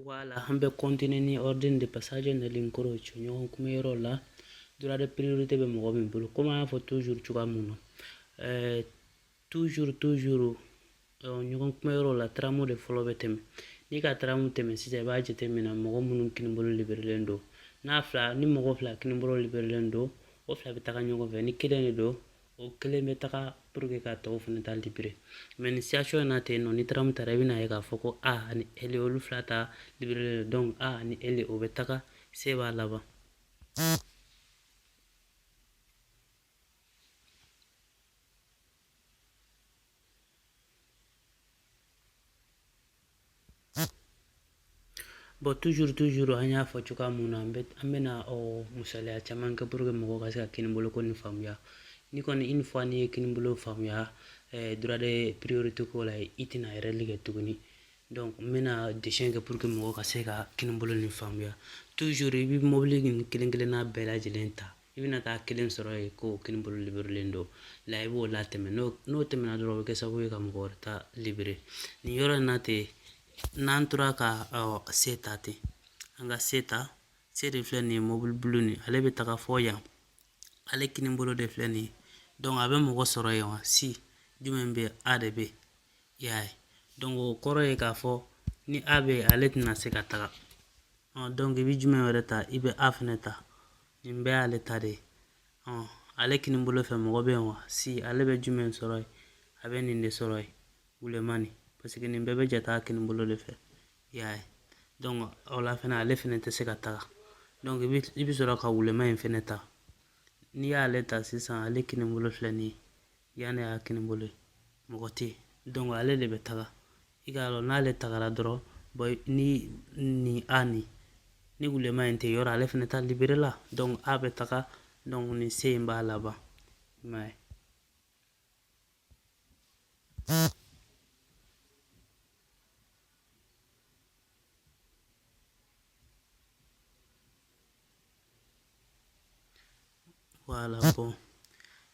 Wala an bɛ kɔntine ni ordine di passaggio negli incroci ɲɔgɔn kunbɛn yɔrɔ la droit de priorité bɛ mɔgɔ min bolo komi y'a fɔ tuzuru cogoya min na ɛɛ tuzuru tuzuru ɲɔgɔn kunbɛn yɔrɔ la taramu de fɔlɔ bɛ tɛmɛ n'i ka taramu tɛmɛ sisan i b'a jateminɛ mɔgɔ minnu kinibolo liberelen don n'a fila ni mɔgɔ fila kinibolo liberelen don o fila bɛ taa ɲɔgɔn fɛ ni kelen de don o kelen bɛ taga puruke ka tɔw fana ta libere mɛ nin sitiyasɔn in na ten nɔ ni taramu taara i bɛna ye k'a fɔ ko a ni ele olu fila ta libere dɔnku a ni ele o bɛ taga se b'a laban Bɔn tuzuru tuzuru an y'a fɔ cogoya min na an bɛna o misaliya caman kɛ puruke mɔgɔw ka se ka kinibolo ko nin faamuya ni kɔni une fois n'i ye kinibolo faamuya ɛɛ droit de priorité ko la i tɛna ɛrɛri kɛ tuguni dɔnku n bɛna desɛn kɛ puruke mɔgɔw ka se ka kinibolo nin faamuya tuzuru i bɛ mɔbili nin kelen kelenna bɛɛ lajɛlen ta i bɛna taa kelen sɔrɔ yen k'o kinibolo liberelen don la i b'o latɛmɛ n'o tɛmɛna dɔrɔn o bɛ kɛ sababu ye ka mɔgɔ wɛrɛ ta libere nin yɔrɔ in na ten n'an tora ka se ta ten an ka se ta se de filɛ nin ye mobili bulu nin ale bɛ taga fɔ yan ale kini bolo de filɛ nin ye dɔnku a bɛ mɔgɔ sɔrɔ yen wa si jumɛn bɛ a de bɛ i y'a ye dɔnku o kɔrɔ ye k'a fɔ ni a bɛ ale tɛna se ka taga dɔnku i bɛ jumɛn wɛrɛ ta i bɛ a fana ta n'i bɛ ale ta de ale kini bolo fɛ mɔgɔ bɛ yen wa si ale bɛ jumɛn sɔrɔ yen a bɛ nin de sɔrɔ yen wulemani paseke nin bɛɛ bɛ jate a kini bolo de fɛ i y'a ye dɔnku o la fana ale fana tɛ se ka taga dɔnku i bɛ i bɛ sɔrɔ ka wulema in fana ta n'i y'ale ta sisan ale kini bolo filɛ nin ye Yan nin y'a kini bolo ye mɔgɔ tɛ dɔnku ale de bɛ taga i k'a dɔn n'ale tagara dɔrɔn bɔn nin a ni ni wulema in tɛ yɔrɔ ale fana ta liberela dɔnku a bɛ taga dɔnku nin se in b'a laban mɛ wala bɔn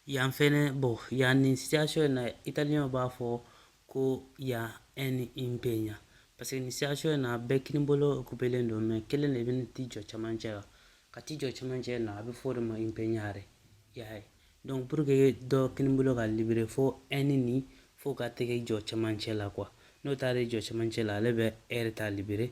yan fɛnɛ bɔn yan nin sitiyasɔn in na italiyɛnw b'a fɔ ko yan ɛni impegna paseke nin sitiyasɔn in na bɛɛ kini bolo okupelen don mɛ kelen de bɛna t'i jɔ camancɛ la ka t'i jɔ camancɛ na a bɛ fɔ o de ma impegnare i y'a ye donc pour que dɔ kini bolo ka libere fo ɛni nin fo ka taga i jɔ camancɛ la kuwa n'o taara i jɔ camancɛ la ale bɛ ɛri ta libere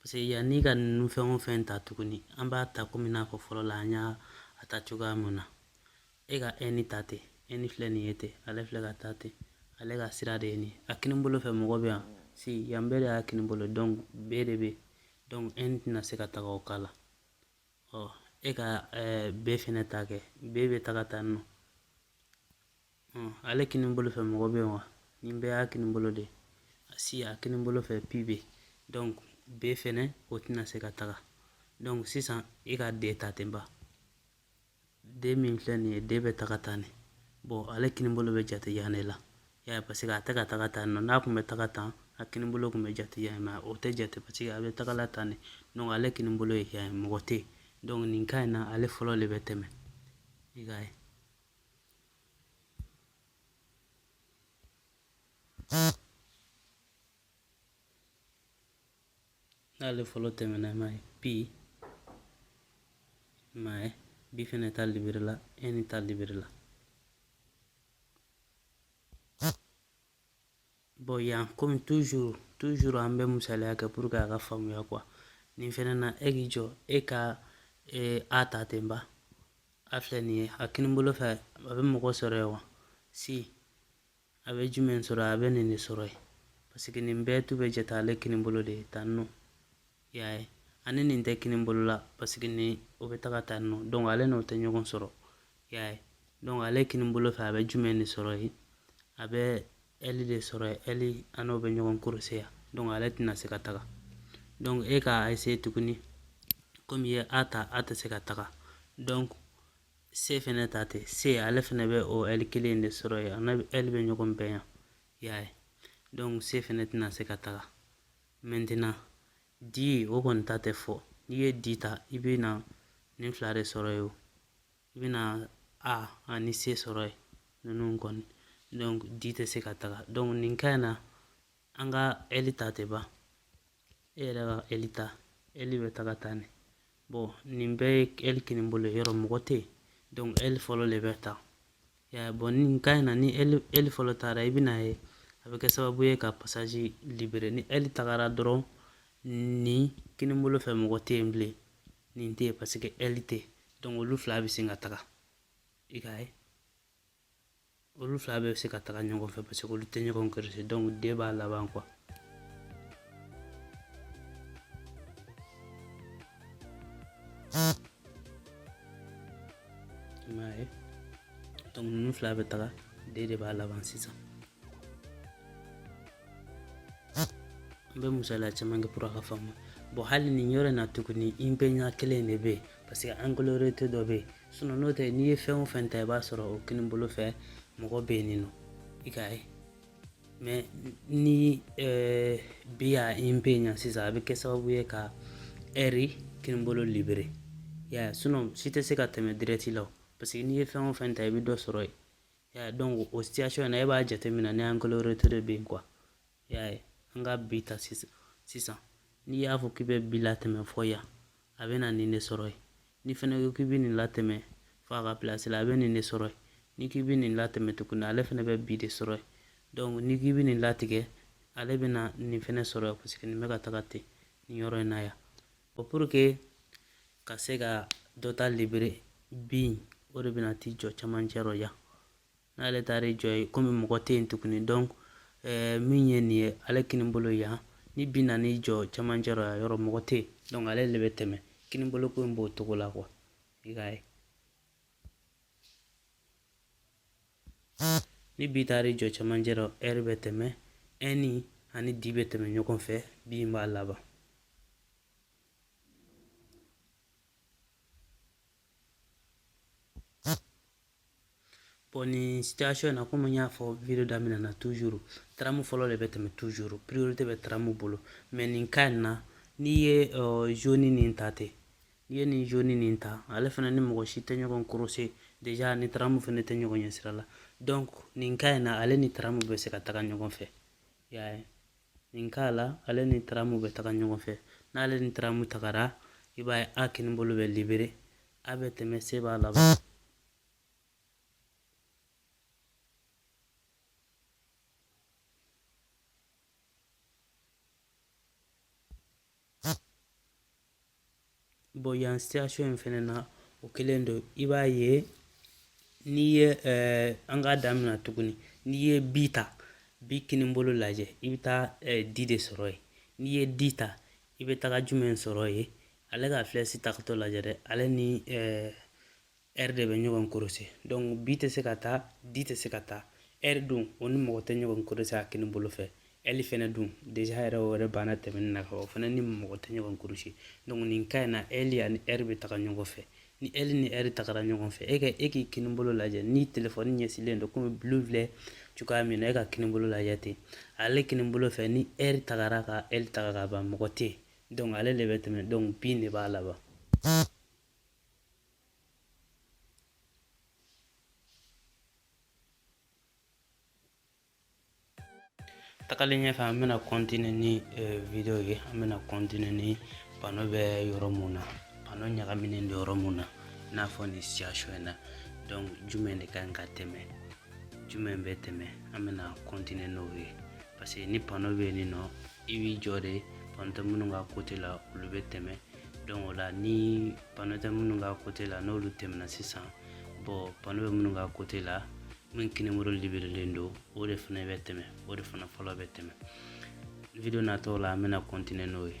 Paseke yanni ka ninnu fɛn o fɛn ta tuguni an b'a ta komi n'a fɔ fɔlɔ la an y'a ta cogoya mun na e ka ɛni ta ten ɛni filɛ nin ye ten ale filɛ ka taa ten ale ka sira de ye nin a kini bolo fɛ mɔgɔ bɛ yan si yan bɛɛ de y'a kini bolo donc be de bɛ donc ɛni tɛna se ka taga o kala ɔ e ka be fɛnɛ ta kɛ be bɛ taga tan nɔ ale kini bolo fɛ mɔgɔ bɛ yen wa nin bɛɛ y'a kini bolo de si a kini bolo fɛ pi bɛ donc b fɛnɛ o tɛna se ka taga donc sisan e ka d ta ten ba d min filɛ nin ye d bɛ taga tan ne bon ale kini bolo bɛ jate yan de la y'a ye paseke a tɛ ka taga tan nɔ n'a tun bɛ taga tan a kini bolo tun bɛ jate yan mɛ o tɛ jate paseke a bɛ tagala tan ne donc ale kini bolo ye yan mɔgɔ tɛ yen donc nin ka in na ale fɔlɔ de bɛ tɛmɛ i k'a ye n'ale fɔlɔ tɛmɛna ma ye p ma ye bi fɛnɛ ta libere la ɛni ta libere la Bon yan kɔmi tuzuru tuzuru an bɛ misaliya kɛ pour que a ka faamuya kuwa nin fɛnɛ na e k'i jɔ e ka a ta ten ba a filɛ nin ye a kini bolo fɛ a bɛ mɔgɔ sɔrɔ yen wa si a bɛ jumɛn sɔrɔ a bɛ nin de sɔrɔ yen parce que nin bɛɛ tun bɛ jate ale kini bolo de ye tan nɔ I y'a ye ani nin tɛ kini bolo la paseke ni o bɛ taga tan nɔ dɔnku ale n'o tɛ ɲɔgɔn sɔrɔ i y'a ye dɔnku ale kini bolo fɛ a bɛ jumɛn de sɔrɔ yen a bɛ ɛli de sɔrɔ yen ɛli a n'o bɛ ɲɔgɔn kuruwaze yan dɔnku ale tɛna se ka taga dɔnku e ka eseye tuguni komi ye a ta a tɛ se ka taga dɔnku se fɛnɛ ta tɛ se ale fɛnɛ bɛ o ɛli kelen de sɔrɔ yen a ni ɛli bɛ ɲɔgɔn bɛn yan i y'a ye dɔnku se fɛnɛ tɛna se ka taga mɛntina di o kɔni ta tɛ fɔ n'i ye di ta i bɛ na nin fila de sɔrɔ yen i bɛ na a ani se sɔrɔ yen ninnu kɔni donc di tɛ se ka taga donc nin ka in na an ka ɛli ta ten ba e yɛrɛ ka ɛli ta ɛli bɛ taga tan ne bɔn nin bɛɛ ye ɛli kini bolo yɔrɔ mɔgɔ tɛ yen donc ɛli fɔlɔ de bɛ taa yan bɔn nin ka in na ni ɛli fɔlɔ taara i bɛn'a ye a bɛ kɛ sababu ye ka pasaji libere ni ɛli tagara dɔrɔn nin kini bolo fɛ mɔgɔ tɛ yen bilen nin tɛ yen paseke ɛli tɛ donc olu fila bɛ se ka taga i k'a ye olu fila bɛɛ bɛ se ka taga ɲɔgɔn fɛ parce que olu tɛ ɲɔgɔn kɛrɛfɛ donc di b'a laban quoi i m'a ye donc ninnu fila bɛ taga di de b'a laban sisan n bɛ misaliya caman kɛ pour a ka faamu bon hali nin yɔrɔ in na tuguni impegna kelen de bɛ yen parce que angolo retto dɔ bɛ yen sinon n'o tɛ n'i ye fɛn o fɛn ta i b'a sɔrɔ o kini bolo fɛ mɔgɔ bɛ yen nɔ i ka ye mais ni eh, bi y'a impegna sisan a bɛ kɛ sababu ye ka ɛri kini bolo libérer y'a ye sinon si tɛ se ka tɛmɛ direct la parce que n'i ye fɛn o fɛn ta i bɛ dɔ sɔrɔ yen y'a ye donc o situation na e b'a jateminɛ ni angolo retto de bɛ yen quoi I y'a ye an ka bi ta sisan n'i y'a fɔ k'i bɛ bi latɛmɛ fɔ yan a bɛ na nin de sɔrɔ yen nin fɛnɛ ko k'i bɛ nin latɛmɛ fɔ a ka place la a bɛ nin de sɔrɔ yen ni k'i bɛ nin latɛmɛ tuguni ale fɛnɛ bɛ bi de sɔrɔ yen ni k'i bɛ nin latigɛ ale bɛ na nin fɛnɛ sɔrɔ yen parce que nin bɛ ka taga ten nin yɔrɔ in na yan pour que ka se ka dɔ ta libérer bi o de bɛna t'i jɔ camancɛ rɔ yan n'ale taara i jɔ yen komi mɔgɔ tɛ yen tuguni donc eh, min ye nin ye ale kini bolo yan ni bi nana i jɔ cɛmancɛ rɔ yan yɔrɔ mɔgɔ tɛ yen donc ale de bɛ tɛmɛ kini bolo ko in b'o cogo la quoi i k'a ye ni bi taara i jɔ cɛmancɛ rɔ ɛri bɛ tɛmɛ ɛni ani di bɛ tɛmɛ ɲɔgɔn fɛ bi in b'a laban bon nin situation na komi n y'a fɔ video daminɛ na toujours taramu fɔlɔ de bɛ tɛmɛ toujours priorité bɛ taramu bolo mais nin cas in na n'i ye euh, jaune nin ta ten n'i ye nin jaune nin ta ale fana ni mɔgɔ si tɛ ɲɔgɔn croiser déjà ni taramu fana tɛ ɲɔgɔn ɲɛ sira la donc nin cas in na ale ni taramu bɛ se ka taga ɲɔgɔn fɛ y'a ye nin cas la ale ni taramu bɛ taga ɲɔgɔn fɛ n'ale ni taramu tagara i b'a ye a kini bolo bɛ libérer a bɛ tɛmɛ se b'a laban Bon yan situation in fɛnɛ na o kelen don i b'a ye n'i ye eh, an k'a daminɛ tuguni n'i ye bi ta bi kinibolo lajɛ i bɛ taa eh, di de sɔrɔ yen n'i ye di ta i bɛ taga jumɛn sɔrɔ yen ale ka flèche tagatɔ lajɛ dɛ ale ni eh, ɛri de bɛ ɲɔgɔn korose donc bi tɛ se ka taa di tɛ se ka taa ɛri dun o ni mɔgɔ tɛ ɲɔgɔn korose a kini bolo fɛ ɛli fɛnɛ dun deja yɛrɛ o yɛrɛ banna tɛmɛni na o fɛnɛ ni mɔgɔ tɛ ɲɔgɔn korose donc nin cas in na ɛli ani ɛri bɛ taga ɲɔgɔn fɛ ni ɛli ni ɛri tagara ɲɔgɔn fɛ e ka e k'i kini bolo lajɛ ni telefɔni ɲɛsilen don komi bulu filɛ cogoya min na e ka kini bolo lajɛ ten ale kini bolo fɛ ni ɛri tagara ka ɛli taga ka ban mɔgɔ tɛ yen donc ale de bɛ tɛmɛ donc bi de b'a laban tagalen ɲɛfɛ an bɛna kɔntine ni eh, video ye an bɛna kɔntine ni pano bɛ yɔrɔ mun na pano ɲagaminen don yɔrɔ mun na i n'a fɔ nin situation in na donc jumɛn de ka ɲi ka tɛmɛ jumɛn bɛ tɛmɛ an bɛna kɔntine n'o ye parce que ni pano bɛ yen nin nɔ i b'i jɔ de pano tɛ minnu ka kote la olu bɛ tɛmɛ donc o la ni pano tɛ minnu ka kote la n'olu tɛmɛna sisan bon pano bɛ minnu ka kote la min kini bolo liberelen don o de fana bɛ tɛmɛ o de fana fɔlɔ bɛ tɛmɛ video natɔw la an bɛna kɔntine n'o ye